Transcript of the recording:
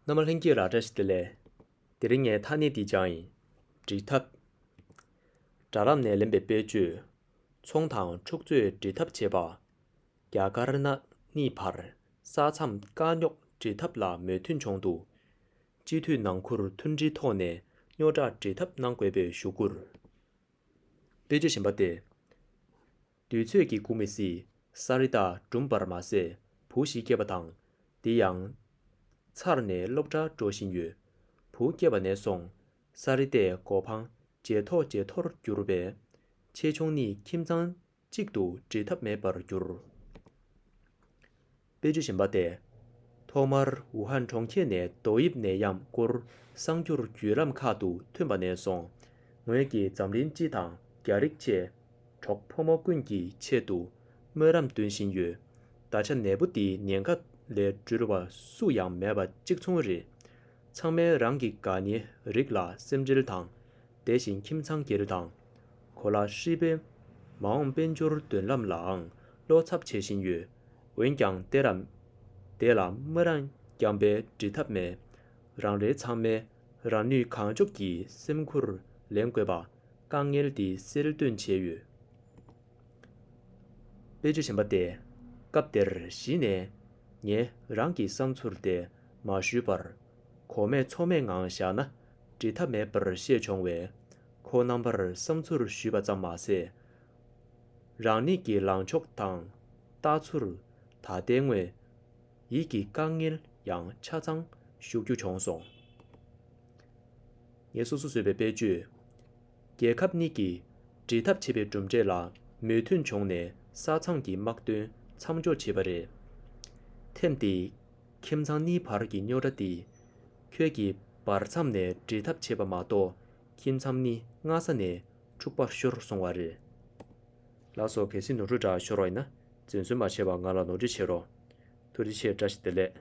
ནམ་མ་ལྷན་སྐྱེས་ར་བཀྲ་ཤིས་བདེ་ལེགས། དེ་རིང་ངའི་ཐག་ནི་འདི་ཅང་ཡིན། འབྲི་ཐབས། སྦྲ་རམ་ནས་ལེན་པའི་དཔེ་བཅོས། ཚོང་དང་འཁྲུག་རྩོད་འབྲི་ཐབས་བྱེད་པ། རྒྱ་དཀར་ནག་གཉིས་བར་ས་མཚམས་དཀའ་རྙོག་འབྲི་ཐབས་ལ་མོས་མཐུན་བྱུང་འདུག་སྤྱི་འཐུས་ནང་ཁུར་མཐུན་སྒྲིལ་ཐོག་ནས་རྙོག་དྲ་འབྲི་ཐབས་གནང་དགོས་པའི་ཞུ་སྐུར། དཔེ་བཅོས་གཞན་པ་སྟེ། དུས་ཚོད་ཀྱིས་འགུགས་མི་སྲིད། ས་རི་དྭགས་སྦྲུམ་པར་མ་ཟད་བུ་ཞིག་སྐྱེས་པ་དང། དེ་ཡང། ཚར་ནས་སློབ་གྲྭར་འགྲོ་བཞིན་ཡོད། བུ་སྐྱེས་པ་ནས་བཟུང། ས་རི་དྭགས་མགོ་འཕང་ཇེ་མཐོ་ཇེ་མཐོར་གྱུར་པས། ཆེ་ཆུང་ནི་ཁྱིམ་ཚང་གཅིག་ཏུ་འདྲེས་ཐབས་མེད་པར་གྱུར། དཔེ་བརྗོད་བཞིན་པ་སྟེ། ཐོག་མར་ཝུ་ཧན་གྲོང་ཁྱེར་ནས་རྡོ་དབྱིབས་ནད་ཡམས་སྐོར་གསང་རྒྱུར་བརྒྱུད་ལམ་ཁག་ཏུ་ཐོན་པ་ནས་བཟུང། ངོས་ཀྱིས་འཛམ་གླིང་སྤྱི་དང་རྒྱ་རིགས་བཅས། གྲོགས་ཕོ་མོ་ཀུན་གྱི་ཆེད་དུ་སྨོན་ལམ་འདོན་བཞིན་ཡོད། ད་ཆ་ནད་འབུ་འདིའི་ཉེན་ཁ་ལས་འགྲོལ་བ་སུ་ཡང་མེད་པ་གཅིག་མཚུངས་རེད། ཚང་མས་རང་གི་དགའ་ཉེ་རིགས་ལ་སེམས་འཁྲེལ་དང། དེ་བཞིན་ཁྱིམ་ཚང་སྒེར་དང། གོ་ལ་ཧྲིལ་པོའི། མ་འོངས་དཔལ་འབྱོར་མདུན་ལམ་ལའང་བློ་འཚབ་བྱེད་བཞིན་ཡོད། འོན་ཀྱང་གཏད་རབས་འདས་ལ་སྨོན་རང་རྐྱང་པས་འབྲི་ཐབས་མེད། རང་རེ་ཚང་མས་རང་ནུས་གང་ལྕོགས་ཀྱིས་སེམས་ཁུར་ལེན་དགོས་པ་དཀའ་ངལ་འདི་སེལ་འདོན་བྱས་ཡོད། དཔེ་ཆ་གཞན་པ་སྟེ། སྐབས་དེར་གཞི་ནས་ངས་རང་གི་བསམ་ཚུར་དེ་མ་ཞུས་པར། གོ་མེད་ཚོར་མེད་ངང་བཞག་ན་འབྲི་ཐབས་མེད་པར་ཤེས་བྱུང་བས། ཁོ་རྣམ་པར་བསམ་ཚུར་ཞུས་པ་ཙམ་མ་ཟད། རང་ཉིད་ཀྱི་ལངས་ཕྱོགས་དང། ལྟ་ཚུལ། ད་ལྟའི་དངོས་ཡིད་ཀྱི་དཀའ་ངལ་ཡང་ཆ་ཚང་ཞུ་རྒྱུ་བྱུང་སོང། ངས་སོ་སོ་བཟོས་པའི་དཔེ་བརྗོད། རྒྱལ་ཁབ་གཉིས་ཀྱིས་འབྲེལ་ཐབས་བྱེད་པའི་གྲུབ་འབྲས་ལ་མོས་མཐུན་བྱུང་ནས་ས་མཚམས་ཀྱི་དམག་དོན་མཚམས་འཇོག་བྱས་པ་རེད། ཐེངས་འདིའི་ཁྱིམ་ཚང་གཉིས་བར་གྱི་རྙོག་དྲ་འདིས། ཁྱོད་ཀྱིས་བར་མཚམས་ནས་འབྲེལ་ཐབས་བྱས་པ་མ་གཏོགས་ཁྱིམ་མཚམས་ནི་སྔ་ས་ནས་འཁྲུག་པར་ཤོར་སོང་བ་རེད། ལགས་སོ་གལ་སྲིད་ནོར་འཁྲུལ་འདྲ་ཤོར་བ་ཡིན་ན་བཙན་གསོལ་མ་བྱེད་པར་ང་ལ་ནོར་འཁྲུལ་བྱེད་རོགས། ཐུགས་རྗེ་ཆེ་བཀྲ་ཤིས་བདེ་ལེགས།